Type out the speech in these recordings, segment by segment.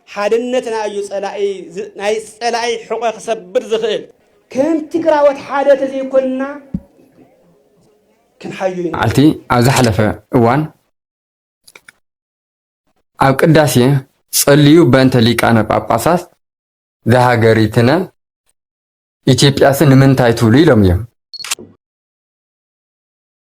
ሓድነትና እዩ ፀላኢ ናይ ፀላኢ ሕቆ ክሰብር ዝኽእል። ከም ትግራዎት ሓደ ተዘይኮንና ክንሓዩ ኢና። መዓልቲ ኣብ ዝሓለፈ እዋን ኣብ ቅዳሴ ጸልዩ በእንተ ሊቃነ ጳጳሳት ዘሃገሪትነ ኢትዮጵያሰ ንምንታይ ትብሉ ኢሎም እዮም።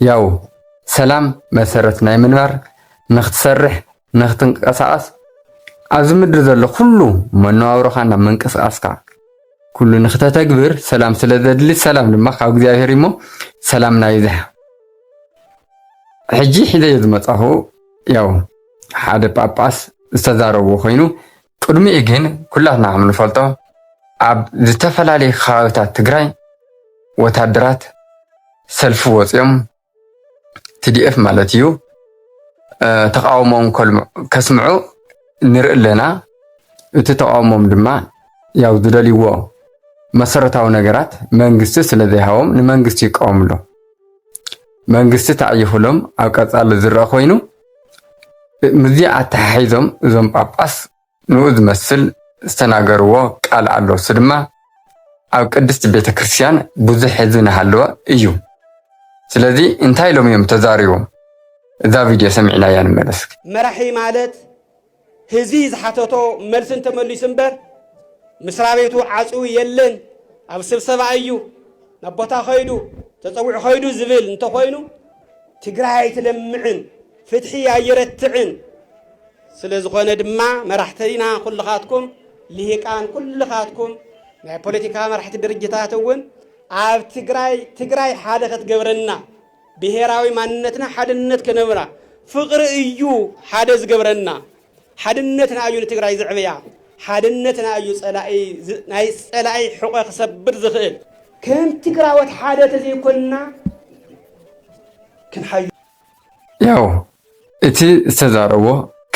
ያው ሰላም መሰረት ናይ ምንባር ንክትሰርሕ ንክትንቀሳቀስ ኣብዚ ምድሪ ዘሎ ኩሉ መነባብሮካ ናብ ምንቅስቃስካ ኩሉ ንክተተግብር ሰላም ስለ ዘድሊ ሰላም ድማ ካብ እግዚኣብሔር እሞ ሰላም ናይ ይብዛሕ ሕጂ ሒዘዮ ዝመፃኹ ያው ሓደ ጳጳስ ዝተዛረብዎ ኮይኑ ቅድሚኡ ግን ኩላትና ከምንፈልጦ ኣብ ዝተፈላለዩ ከባቢታት ትግራይ ወታደራት ሰልፊ ወፂኦም ቲዲኤፍ ማለት እዩ ተቃውሞኦም ከስምዑ ንርኢ ኣለና። እቲ ተቃውሞም ድማ ያው ዝደልይዎ መሰረታዊ ነገራት መንግስቲ ስለዘይሃቦም ንመንግስቲ ይቃወሙ ኣሎ። መንግስቲ ተዓይኹሎም ኣብ ቀፃሊ ዝረአ ኮይኑ ምስዚ ኣተሓሒዞም እዞም ጳጳስ ንኡ ዝመስል ዝተናገርዎ ቃል ኣሎ፣ እሱ ድማ ኣብ ቅድስቲ ቤተ ክርስቲያን ብዙሕ ህዝቢ ናሃለወ እዩ፣ ስለዚ እንታይ ኢሎም እዮም ተዛሪቦም እዛ ቪድዮ ሰሚዕናያ ንመለስ። መራሒ ማለት ህዝቢ ዝሓተቶ መልሲ እንተመሊሱ እምበር ምስራቤቱ ዓፅዊ የለን ኣብ ስብሰባ እዩ ናብ ቦታ ከይዱ ተፀዊዑ ከይዱ ዝብል እንተኾይኑ ትግራይ ኣይትለምዕን ፍትሒ ኣየረትዕን ስለ ዝኾነ ድማ መራሕቲና ኩልኻትኩም ልሂቃን ኩልኻትኩም ናይ ፖለቲካ መራሕቲ ድርጅታት እውን ኣብ ትግራይ ትግራይ ሓደ ከትገብረና ብሄራዊ ማንነትና ሓድነት ክነብራ ፍቅሪ እዩ ሓደ ዝገብረና ሓድነትና እዩ ንትግራይ ዝዕብያ ሓድነትና እዩ ፀላኢ ናይ ፀላኢ ሕቆ ክሰብር ዝኽእል ከም ትግራዎት ሓደ ተዘይኮንና ክንሓዩ ያው እቲ ዝተዛረቦ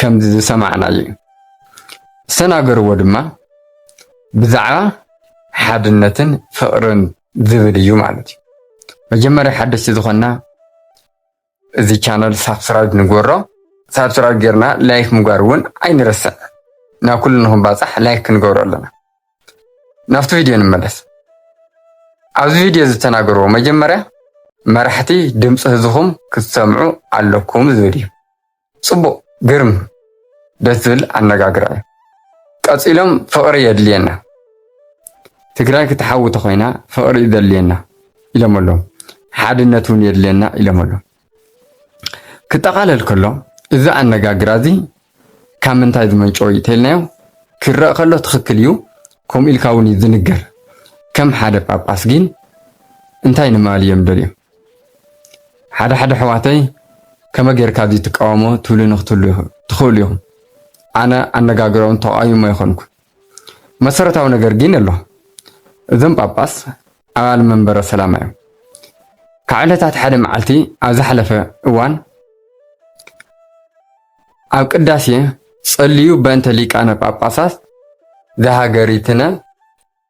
ከምዚ ዝሰማዕና እዩ ዝተናገርዎ ድማ ብዛዕባ ሓድነትን ፍቅርን ዝብል እዩ ማለት እዩ። መጀመርያ ሓደሽቲ ዝኾንና እዚ ቻነል ሳብስክራይብ ንግበሮ። ሳብስክራይብ ጌርና ላይክ ምግባር እውን ኣይንረስዕ። ናብ ኩሉ ንክንባፃሕ ላይክ ክንገብሮ ኣለና። ናብቲ ቪድዮ ንመለስ። ኣብዚ ቪድዮ ዝተናገርዎ መጀመርያ መራሕቲ ድምፂ ህዝኹም ክትሰምዑ ኣለኩም ዝብል እዩ። ጽቡቅ ግርም ደስ ዝብል ኣነጋግራ እዩ ቀጺሎም ፍቅሪ የድልየና ትግራይ ክትሓዊ ተኮይና ፍቅሪ እዩ ዘድልየና ኢሎም ኣለዉ ሓድነት እውን የድልየና ኢሎም ኣለዉ ክጠቃለል ከሎ እዚ ኣነጋግራ እዚ ካብ ምንታይ ዝመንጨወ እዩ ተልናዮ ክረእ ከሎ ትኽክል እዩ ከምኡ ኢልካ እውን እዩ ዝንገር ከም ሓደ ጳጳስ ግን እንታይ ንማል እዮም ደልዮም ሓደ ሓደ ኣሕዋተይ ከመይ ጌርካ ድዩ ትቃወሞ ትብሉኒ ክትህሉ ትኽእሉ ኢኹም። ኣነ ኣነጋግሮም ተቃዊሞ ኣይኮንኩን። መሰረታዊ ነገር ግን ኣሎ። እዞም ጳጳስ ኣባል መንበረ ሰላማ እዮም። ካብ ዕለታት ሓደ መዓልቲ ኣብ ዝሓለፈ እዋን ኣብ ቅዳሴ ጸልዩ በእንተ ሊቃነ ጳጳሳት ዘሃገሪትነ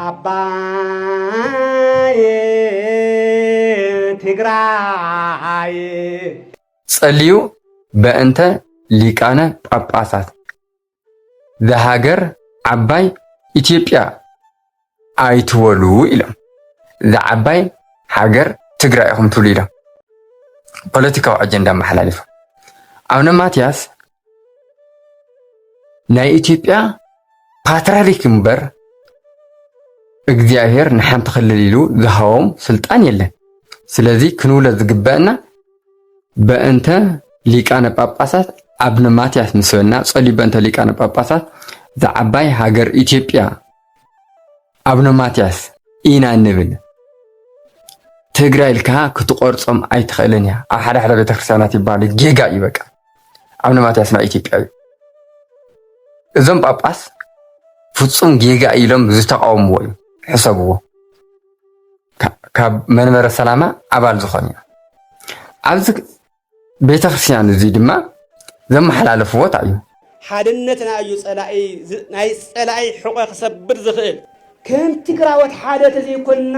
ኣባየ ትግራየ። ጸልዩ በእንተ ሊቃነ ጳጳሳት ዘሃገር ዓባይ ኢትዮጵያ ኣይትበሉ ኢሎም። እዛ ዓባይ ሃገር ትግራይ ኢኹም ትብሉ ኢሎም ፖለቲካዊ ኣጀንዳ ኣመሓላሊፎም። ኣቡነ ማትያስ ናይ ኢትዮጵያ ፓትርያርክ እምበር እግዚኣብሔር ንሓንቲ ክልል ኢሉ ዝሃቦም ስልጣን የለን። ስለዚ ክንብሎ ዝግበአና በእንተ ሊቃነ ጳጳሳት ኣብነ ማትያስ ንስበና ጸልዩ በእንተ ሊቃነ ጳጳሳት ዝዓባይ ሃገር ኢትዮጵያ ኣብነ ማትያስ ኢና እንብል ትግራይ ኢልካ ክትቆርጾም ኣይትኽእልን እያ ኣብ ሓደ ሓደ ቤተክርስትያናት ይባሉ ጌጋ እዩ በቃ ኣብነ ማትያስ ናይ ኢትዮጵያ እዩ እዞም ጳጳስ ፍጹም ጌጋ ኢሎም ዝተቃወምዎ እዩ ሕሰብዎ ካብ መንበረ ሰላማ ኣባል ዝኾን እዩ ኣብዚ ቤተክርስቲያን እዙይ ድማ ዘመሓላለፍዎ ታይ እዩ? ሓድነትና እዩ ፀላኢ ናይ ፀላኢ ሕቆ ክሰብር ዝኽእል። ከም ትግራዎት ሓደ ተዘይኮንና።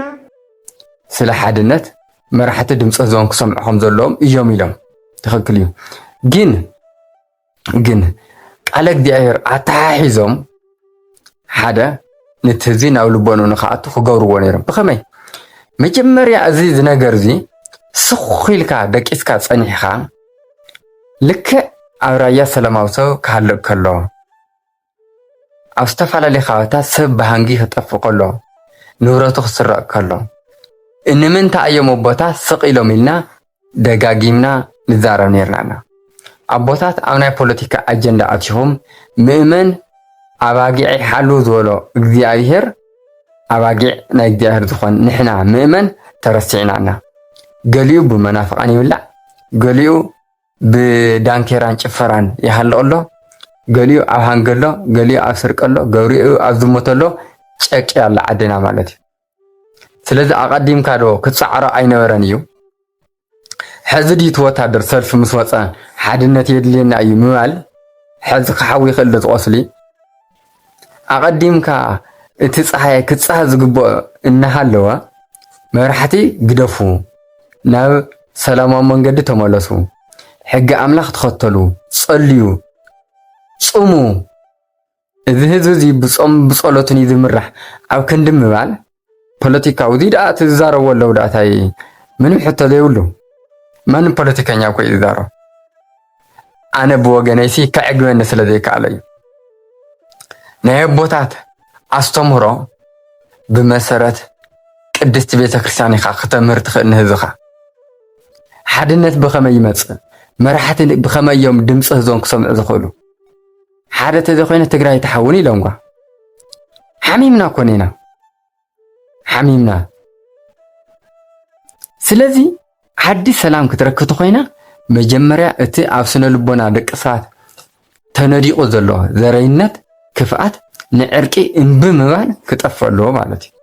ስለ ሓድነት መራሕቲ ድምፂ ህዝቦም ክሰምዑ ከምዘለዎም እዮም ኢሎም ትኽክል እዩ ግን። ግን ቃለ እግዚኣብሔር ኣተሓሒዞም ሓደ ነቲ ህዝቢ ናብ ልቦኑ ንክኣቱ ክገብርዎ ነይሮም። ብኸመይ መጀመርያ እዚ ዝነገር እዚ ስኽ ኢልካ ደቂስካ ፀኒሕኻ ልክዕ ኣብ ራያ ሰላማዊ ሰብ ክሃልቕ ከሎ ኣብ ዝተፈላለዩ ከባቢታት ሰብ ብሃንጊ ክጠፍእ ከሎ፣ ንብረቱ ክስረቕ ከሎ፣ እንምንታይ እዮም ኣቦታት ስቕ ኢሎም ኢልና ደጋጊምና ንዛረብ ነይርና ኢና። ኣቦታት ኣብ ናይ ፖለቲካ ኣጀንዳ ኣቲኹም ምእመን ኣባጊዐይ ሓሉ ዝበሎ እግዚኣብሔር ኣባጊዕ ናይ እግዚኣብሔር ዝኾን ንሕና ምእመን ተረሲዕና እና። ገሊኡ ብመናፍቓን ይብላዕ፣ ገሊኡ ብዳንኬራን ጭፈራን ይሃልቕ ኣሎ፣ ገሊኡ ኣብ ሃንጊ ኣሎ፣ ገሊኡ ኣብ ስርቂ ኣሎ፣ ገብሪኡ ኣብ ዝሙት ኣሎ፣ ጨቂ ኣላ ዓድና ማለት እዩ። ስለዚ ኣቐዲምካ ዶ ክትጻዕሮ ኣይነበረን እዩ? ሕዚ ድዩ እቲ ወታደር ሰልፊ ምስ ወፀ ሓድነት የድልየና እዩ ምባል? ሕዚ ክሓዊ ይኽእል ዶ ዝቖስሊ? ኣቐዲምካ እቲ ፀሓይ ክፃህ ዝግበኦ እናሃለወ መራሕቲ ግደፉ፣ ናብ ሰላማዊ መንገዲ ተመለሱ፣ ሕጊ ኣምላኽ ተኸተሉ፣ ፀልዩ፣ ፅሙ፣ እዚ ህዝቢ እዚ ብፆምን ብፀሎትን እዩ ዝምራሕ ኣብ ክንዲ ምባል፣ ፖለቲካዊ እዚ ደኣ እቲ ዝዛረቦ ኣለዉ ደኣ ታይ ምንም ሕቶ ዘይብሉ መን ፖለቲከኛ እኮ እዩ ዝዛረብ ኣነ ብወገነይሲ ከዕግበኒ ስለ ዘይከኣለ እዩ ናይ ኣቦታት ኣስተምህሮ ብመሰረት ቅድስቲ ቤተ ክርስቲያን ኢኻ ክተምህር ትኽእል ንህዝኻ ሓድነት ብኸመይ ይመፅእ መራሕቲ ብኸመይ እዮም ድምፂ ህዝቦም ክሰምዑ ዝኽእሉ ሓደ ተዘኮይነ ትግራይ ትሓውን ኢሎምኳ ሓሚምና ኮኔና ሓሚምና ስለዚ ዓዲ ሰላም ክትረክብ ተኮይና መጀመርያ እቲ ኣብ ስነ ልቦና ደቂ ሰባት ተነዲቁ ዘሎ ዘረይነት ክፍኣት ንዕርቂ እምቢ ምባል ክጠፍእ ኣለዎ ማለት እዩ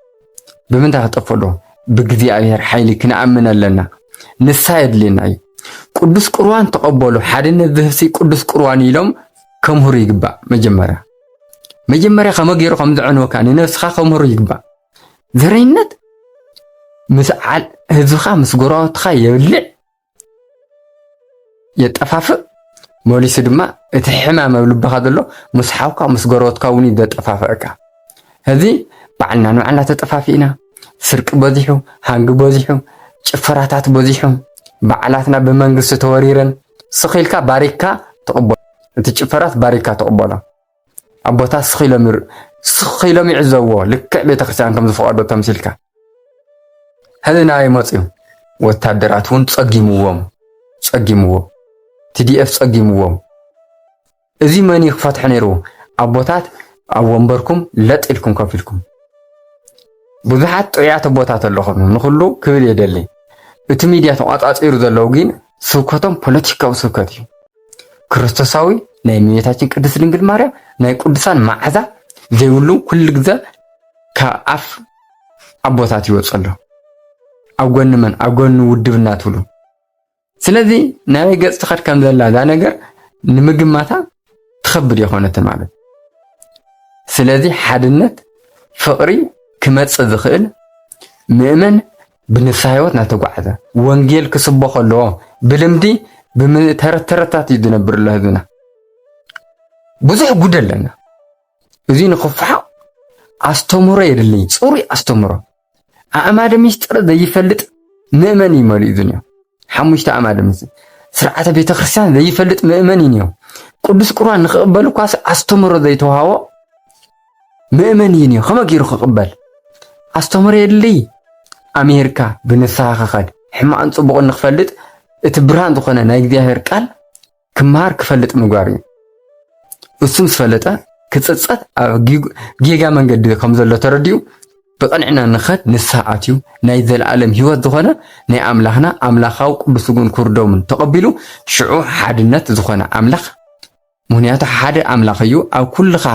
ብምንታይ ክጠፍእ ኣለዎ? ብእግዚኣብሔር ሓይሊ ክንኣምን ኣለና። ንሳ የድልየና እዩ። ቅዱስ ቁርባን ተቐበሉ፣ ሓድነት ዝህብሲ ቅዱስ ቁርባን ኢሎም ከምህሩ ይግባእ። መጀመርያ መጀመርያ ከመ ገይሩ ከም ዘዕንወካ ንነብስኻ ከምህሩ ይግባእ። ዘረኝነት ምስ ህዝብኻ ምስ ጎረባብትኻ የብልዕ የጠፋፍእ መሊሱ ድማ እቲ ሕማም ኣብ ልብኻ ዘሎ ምስ ሓውካ ምስ ጎረበትካ እውን እዩ ዘጠፋፍአካ። ሕዚ ባዕልና ንባዕልና ተጠፋፊእና፣ ስርቂ በዚሑ፣ ሃንጊ በዚሑ፣ ጭፈራታት በዚሑ፣ በዓላትና ብመንግስቲ ተወሪረን ስኽ ኢልካ ባሪክካ ትቕበሎ፣ እቲ ጭፈራስ ባሪክካ ትቕበሎ። ኣቦታት ስኽ ኢሎም ስኽ ኢሎም ይዕዘብዎ ልክዕ ቤተክርስትያን ከም ዝፈቐዶ ተምሲልካ ህልና ይመፅዩ ወታደራት እውን ፀጊምዎም ፀጊምዎ ቲዲኤፍ ፀጊምዎም እዚ መን እዩ ክፈትሐ ነይሩ ኣቦታት ኣብ ወንበርኩም ለጥ ኢልኩም ከፍ ኢልኩም ብዙሓት ጥዑያት ኣቦታት ኣለኹም ንኩሉ ክብል የደሊ እቲ ሚድያ ተቋፃፂሩ ዘለው ግን ስብከቶም ፖለቲካዊ ስብከት እዩ ክርስቶሳዊ ናይ እመቤታችን ቅድስት ድንግል ማርያም ናይ ቅዱሳን መዓዛ ዘይብሉ ኩሉ ግዘ ካብ ኣፍ ኣቦታት ይወፅ ኣሎ ኣብ ጎኒ መን ኣብ ጎኒ ውድብና ትብሉ ስለዚ ናበይ ገፅ ትኸድ ከም ዘላ እዛ ነገር ንምግማታ ትኸብድ የኾነት ማለት ስለዚ ሓድነት ፍቕሪ ክመፅእ ዝኽእል ምእመን ብንስሃ ሕይወት ናተጓዕዘ ወንጌል ክስበኾ ኣለዎ። ብልምዲ ብተረተረታት እዩ ዝነብር ኣሎ ህዝብና። ብዙሕ ጉድ ኣለና። እዚ ንክፋሓቕ ኣስተምህሮ የድልይ፣ ጽሩይ ኣስተምህሮ። ኣእማደ ምስጢር ዘይፈልጥ ምእመን እዩ መሊኡ ዝንዮ። ሓሙሽተ ኣእማደ ምስጢር ስርዓተ ቤተ ክርስቲያን ዘይፈልጥ ምእመን እዩ ንዮ። ቅዱስ ቁርባን ንክቕበል እኳ ኣስተምህሮ ዘይተዋሃቦ መእመን እዩን ከመ ገይሩ ክቕበል ኣስተምህሮ የድልይ። ኣምሂርካ ብንስሓ ክኸድ ሕማቕን ጽቡቕን ንክፈልጥ እቲ ብርሃን ዝኾነ ናይ እግዚኣብሔር ቃል ክመሃር ክፈልጥ ምግባር እዩ። እሱ ምስ ፈለጠ ክጽጸት ኣብ ጌጋ መንገዲ ከም ዘሎ ተረዲኡ ብቕንዕና ንኸድ ንስሓ ኣትዩ ናይ ዘለኣለም ህይወት ዝኾነ ናይ ኣምላኽና ኣምላኻዊ ቅዱስ ስግኡን ክብርዶምን ተቐቢሉ ሽዑ ሓድነት ዝኾነ ኣምላኽ ምክንያቱ ሓደ ኣምላኽ እዩ ኣብ ኩልኻ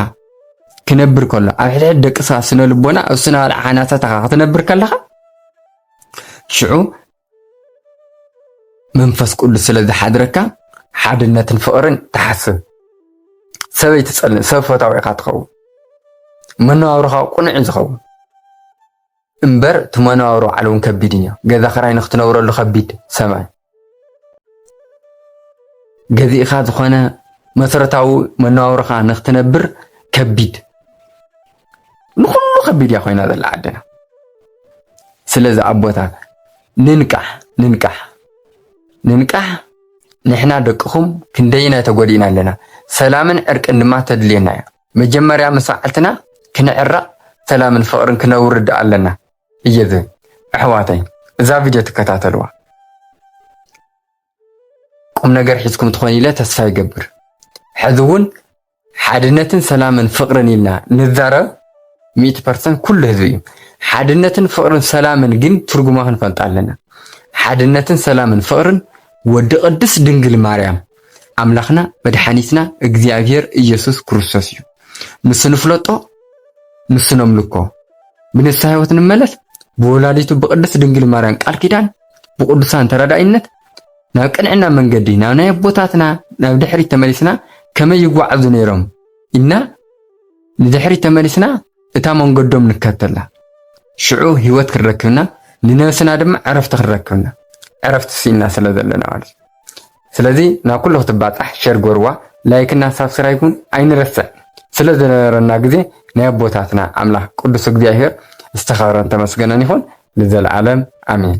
ክነብር ከሎ ኣብ ሕድሕድ ደቂ ሰባት ስነ ልቦና ኣብ ስነ ባልዕ ሓናታታኻ ክትነብር ከለኻ ሽዑ መንፈስ ቅዱስ ስለ ዝሓድረካ ሓድነትን ፍቕርን ትሓስብ ሰበይ ትጸልእ ሰብ ፈታዊ ኢኻ ትኸውን መነባብሮኻ ቁኑዕ እዩ ዝኸውን እምበር እቲ መነባብሮ ባዕሉ እውን ከቢድ እዮ። ገዛ ክራይ ንክትነብረሉ ከቢድ ሰማይ ገዚእኻ ዝኾነ መሰረታዊ መነባብሮኻ ንክትነብር ከቢድ ንኩሉ ከቢድ እያ ኮይና ዘላ ዓድና። ስለዚ ኣቦታት ንንቃሕ ንንቃሕ ንንቃሕ ንሕና ደቅኹም ክንደይናይ ተጎዲእና ኣለና ሰላምን ዕርቅን ድማ ተድልየና እያ መጀመርያ ምስ ባዓልትና ክንዕረቅ ሰላምን ፍቅርን ክነውርድ ኣለና እየ ዝብል ኣሕዋተይ እዛ ቪድዮ ትከታተልዋ ቁምነገር ሒዝኩም ትኾን ኢለ ተስፋ ይገብር ሕዚ እውን ሓድነትን ሰላምን ፍቅርን ኢልና ንዛረብ ሚእቲ ፐርሰንት ኩሉ ህዝቢ እዩ ሓድነትን ፍቅርን ሰላምን ግን ትርጉማ ክንፈልጣ ኣለና ሓድነትን ሰላምን ፍቅርን ወዲ ቅድስት ድንግል ማርያም ኣምላኽና መድሓኒትና እግዚኣብሄር ኢየሱስ ክርስቶስ እዩ። ምስ ንፍለጦ ንሱ ነምልኮ፣ ብንስሓ ሕይወት ንመለስ፣ ብወላዲቱ ብቅድስት ድንግል ማርያም ቃል ኪዳን፣ ብቅዱሳን ተራዳኢነት ናብ ቅንዕና መንገዲ ናብ ናይ ኣቦታትና ናብ ድሕሪት ተመሊስና ከመይ ይጓዓዙ ነይሮም ኢልና ንድሕሪት ተመሊስና እታ መንገዶም ንከተላ ሽዑ ህይወት ክንረክብና ንነብስና ድማ ዕረፍቲ ክንረክብና ዕረፍቲ ስኢንና ስለ ዘለና ማለት እዩ። ስለዚ ናብ ኩሉ ክትባጻሕ ሸር ግበርዋ ላይክ እና ሳብስራይብ ውን ኣይንረስዕ ስለ ዝነበረና ግዜ ናይ ኣቦታትና ኣምላክ ቅዱስ እግዚኣብሄር ዝተከብረን ተመስገነን ይኩን ንዘልኣለም ኣሜን።